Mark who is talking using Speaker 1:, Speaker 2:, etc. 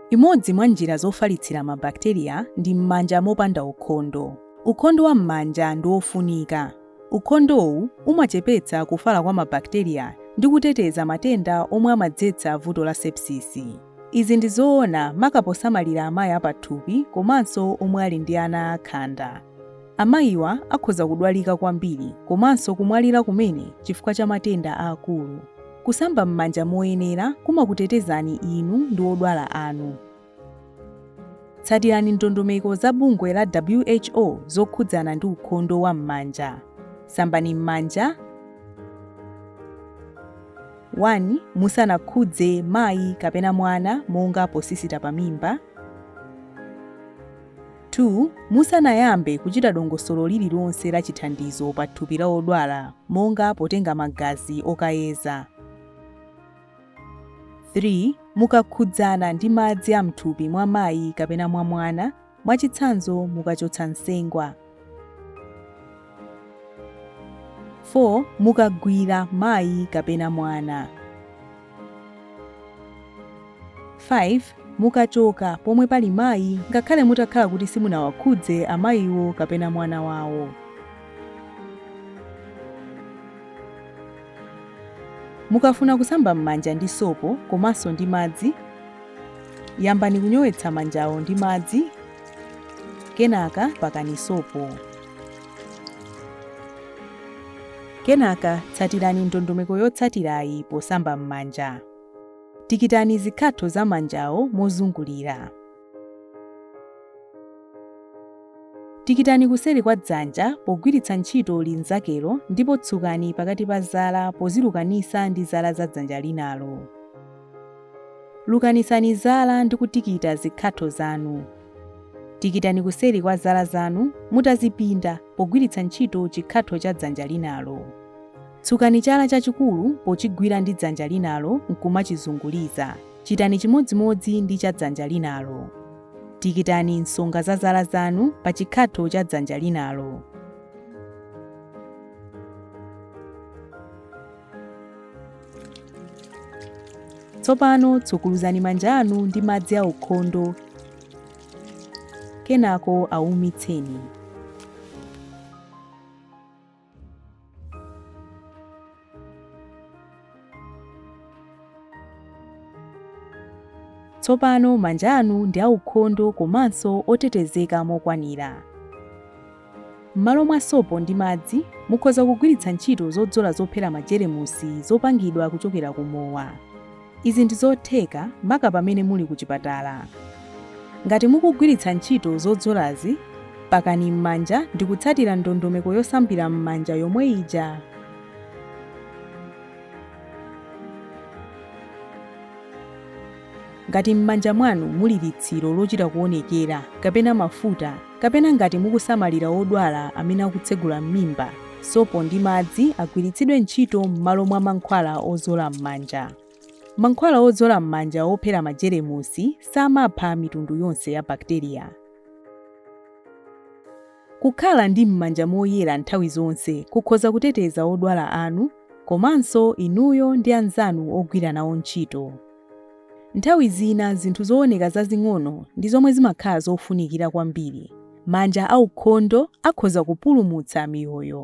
Speaker 1: Imodzi mwa njira zofalitsira mabakiteriya ndi m'manja mopanda ukhondo. Ukhondo wa m'manja ndi wofunika. Ukhondowu umachepetsa kufala kwa mabakiteriya ndi kuteteza matenda omwe amadzetsa vuto la sepsisi. Izi ndi zoona maka posamalira amayi apathupi komanso omwe ali ndi ana akhanda. Amayiwa akhoza kudwalika kwambiri komanso kumwalira kumene chifukwa cha matenda aakulu. Kusamba m'manja moyenera kumakutetezani inu ndi odwala anu. Tsatirani ndondomeko za bungwe la WHO zokhudzana ndi ukhondo wa m'manja. Sambani m'manja. 1 musanakhudze mayi kapena mwana monga posisita pa mimba 2 musanayambe kuchita dongosolo lililonse la chithandizo pa thupi la odwala monga potenga magazi okayeza 3 mukakhudzana ndi madzi a mthupi mwa mayi kapena mwa mwana mwachitsanzo mukachotsa nsengwa 4 mukagwira mayi kapena mwana 5 mukachoka pomwe pali mayi ngakhale mutakhala kuti simunawakhudze amayiwo kapena mwana wawo Mukafuna kusamba m'manja ndi sopo komanso ndi madzi, yambani kunyowetsa manjawo ndi madzi, kenaka pakani sopo. Kenaka tsatirani ndondomeko yotsatirayi posamba m'manja. Tikitani zikhatho za manjawo mozungulira. Tikitani kuseri kwa dzanja pogwiritsa ntchito linzakelo ndipo tsukani pakati pa zala pozilukanisa ndi zala za dzanja linalo. Lukanisani zala ndi kutikita zikhatho zanu. Tikitani kuseri kwa zala zanu mutazipinda pogwiritsa ntchito chikhatho cha dzanja linalo. Tsukani chala chachikulu pochigwira ndi dzanja linalo nkumachizunguliza. Chitani chimodzimodzi ndi cha dzanja linalo. Tikitani nsonga za zala zanu pa chikhatho cha dzanja linalo. Tsopano tsukuluzani manja anu ndi madzi aukhondo kenako aumitseni. Tsopano manja anu ndi aukhondo komanso otetezeka mokwanira. M'malo mwa sopo ndi madzi, mukhoza kugwiritsa ntchito zodzola zophera majeremusi zopangidwa kuchokera ku mowa. Izi ndi zotheka maka pamene muli ku chipatala. Ngati mukugwiritsa ntchito zodzolazi, pakani m'manja ndikutsatira ndondomeko yosambira m'manja yomwe ija. Ngati m'manja mwanu muli litsiro lochita kuonekera kapena mafuta kapena ngati mukusamalira odwala amene akutsegula m'mimba, sopo ndi madzi agwiritsidwe ntchito m'malo mwa mankhwala ozola m'manja. Mankhwala ozola m'manja ophera majeremusi samapha mitundu yonse ya bakiteriya. Kukhala ndi m'manja moyera nthawi zonse kukhoza kuteteza odwala anu komanso inuyo ndi anzanu ogwira nawo ntchito. Nthawi zina zinthu zooneka zazing'ono ndi zomwe zimakhala zofunikira kwambiri. Manja aukhondo akhoza kupulumutsa miyoyo.